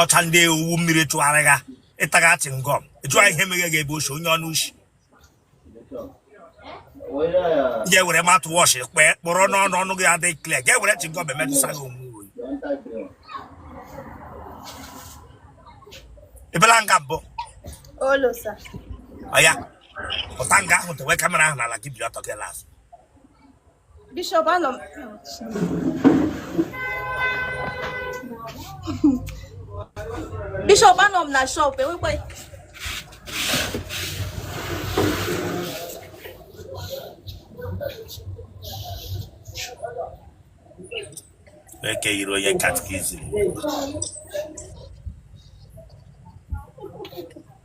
ọcha ndị owu mmiri chụgharị ha ị taga chingọm ị jụọ ihe meghe gị ebe oshi onye ọnụ ushi ya were mouthwash kpee kpọrọ n'ọnụ ọnụ gị adịghị clear ga ewere chingọm emetụsa gị onwe oyi ebela nga mbụ ọya pụta nga ahụ tewe kamera ahụ n'ala gị biri ọtọ gị n'azụ Bishop anọ m Bishop anọ m na shop enwekwa ke i yiri onye katikizim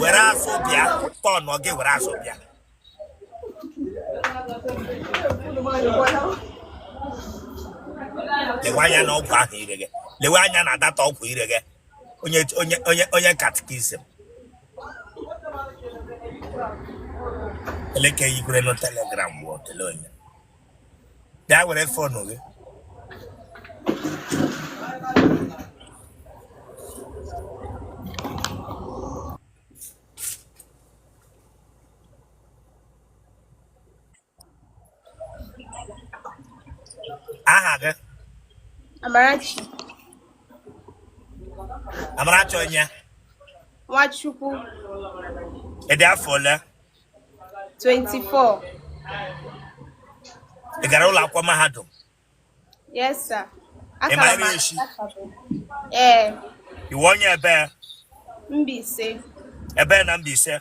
were azụ bịa tọn gị were azụ bịa lewe anya na ọgwụ ahụ i rega lewe anya na that ọgwụ i rega onye onye onye onye katikizim ele ke yikwere na Telegram bụ otele onye bịa were fonu gị aha gị Amarachi Amarachi onye Nwachukwu ị dị afọ ole 24. Ị gara ụlọ akwụkwọ mahadum? Yes, sir. Ị ma ebe i shi? Ee. Ị wụ onye ebe? Mbaise. Ebe na Mbaise?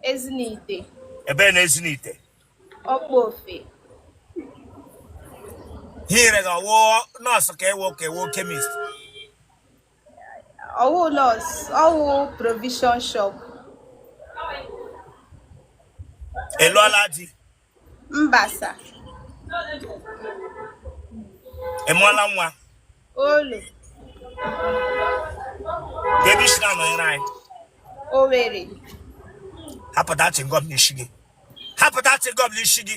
Ezinihitte. Ebe na Ezinihitte? Okpofe. Ihe i rega ọ wụ nọọsụ ka ị wụ ka ọ wụ kemist. o no sa ọ wụ provision shop ị lụọla di mba sa ị mụọla nwa o no kedu isi na nọnyere anyị Owere hapụta chingọm n'isi gị hapụta chingọm n'isi gị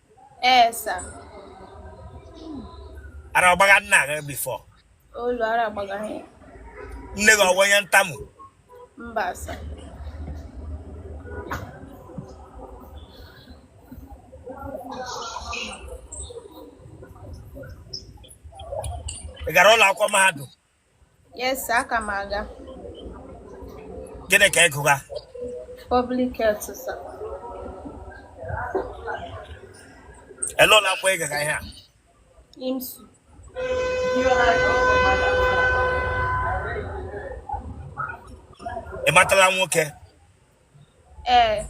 Ee, sir. Ara ọ gbaga nna gị before. O no ara agbaga ha. Nne gị ọ wụ onye ntamu. Mba, sir. Ị gara ụlọ akwụkwọ mahadum? Yes, aka m aga. Gịnị ka ị gụga? Public health, sir. Ele ụlọ akwụkwọ ị gaga ihe a? IMSU. Ị matala nwoke? ee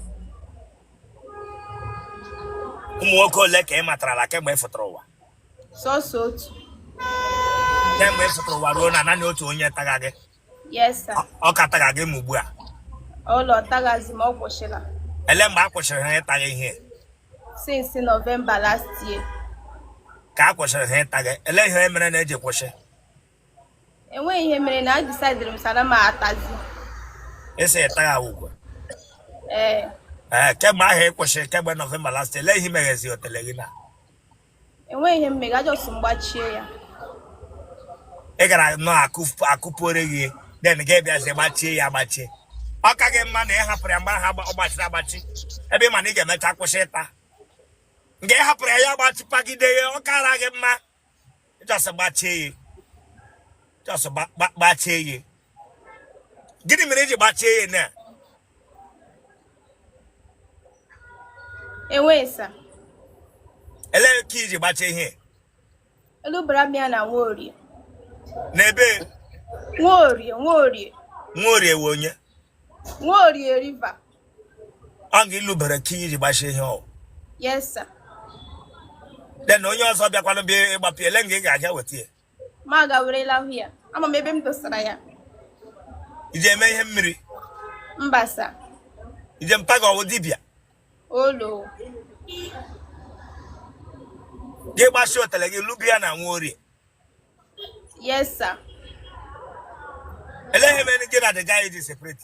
ụmụ nwoke ole ka ị matarala kemgbe ị fụtara ụwa sọsọ otu kemgbe ị fụtara ụwa ruo na naanị otu onye taga gị yes sir Ọ- ọ ka taga gị ma ugbu a olo ọ tagazi m ọ kwụsịla ele mgbe a kwụsịrị ha ịta gị ihe since November last year ka a kwụsịrị ha ịta gị ele ihe mere unu ji kwụsị enweghị ihe mere na a disaidịrị m sị na m atazi esi ete ya ugwu ee ee kemgbe ahụ ị kwụsịrị kemgbe November last ele ihe megazi otele gị na enweghị ihe mega just m gbachie ya ị gara nọ akụ- akụpụore gị then gị bịazi gbachie ya gbachie ọ ka gị mma na ị hapụrụ ya mgbe ahụ agba- ọ gbachiri agbachi ebe ị ma na ị ga-emecha kwụsị ịta nke ị hapụrụ ya ya gbachipagide ya ọ kara gị mma just gbachie ya just gbachie ya gịnị mere iji gbachie ya na enweghị sir elee key iji gbachie ihe elubara m ya na nwaorie n'ebe nwaorie nwaorie nwaorie wụ onye nwaorie river ọ nga ilubara key iji gbachie ihe ahụ yes sir then onye ọzọ bịakwanụ bịa ịgbapụ ele nga ị ga-aga weta ya ma ga werela ahụ ya ama m ebe m dosara ya iji eme ihe mmiri mba sir ije mpa gị ọwụ dibịa olo gị gbachie otele gị luba ya na nwa orie yes sir ele ihe mere gị na the guy ji separate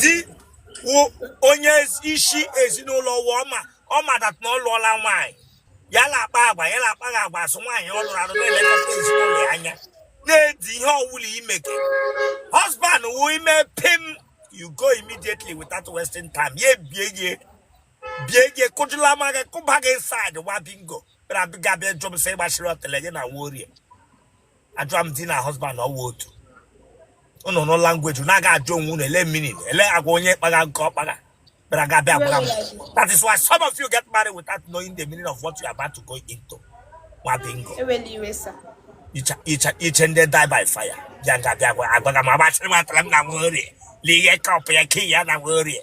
di onye isi ezinụlọ ụwa ọma ọma that na ọ lụọla nwaanyị ya na-akpa agwa ya na-akpaghị agwa as nwaanyị ọ lụrụ alụ na-elekọta ezinụlọ ya anya na-edi ihe ọwụla imeke husband wụ ime pim you go immediately without wasting time ya ebie gị bie gị kụjụla ma gị kụba gị inside nwa bingo bịa bịa jụ m sị gbachiri otele gị na nwa orie ajụa m di na husband ọwụ otu unu nụ language na-aga ajụ onwe unu ele meaning ele agwa onye kpagha nke ọkpagha bịara ga bịa gbara m that is why some of you get married without knowing the meaning of what you are about to go into nwa bingo iche ndị die by fire bịa ga bịa agwaga m agbachiri m otele m na nwa orie lee ihe kọpụ ya key ya na nwa orie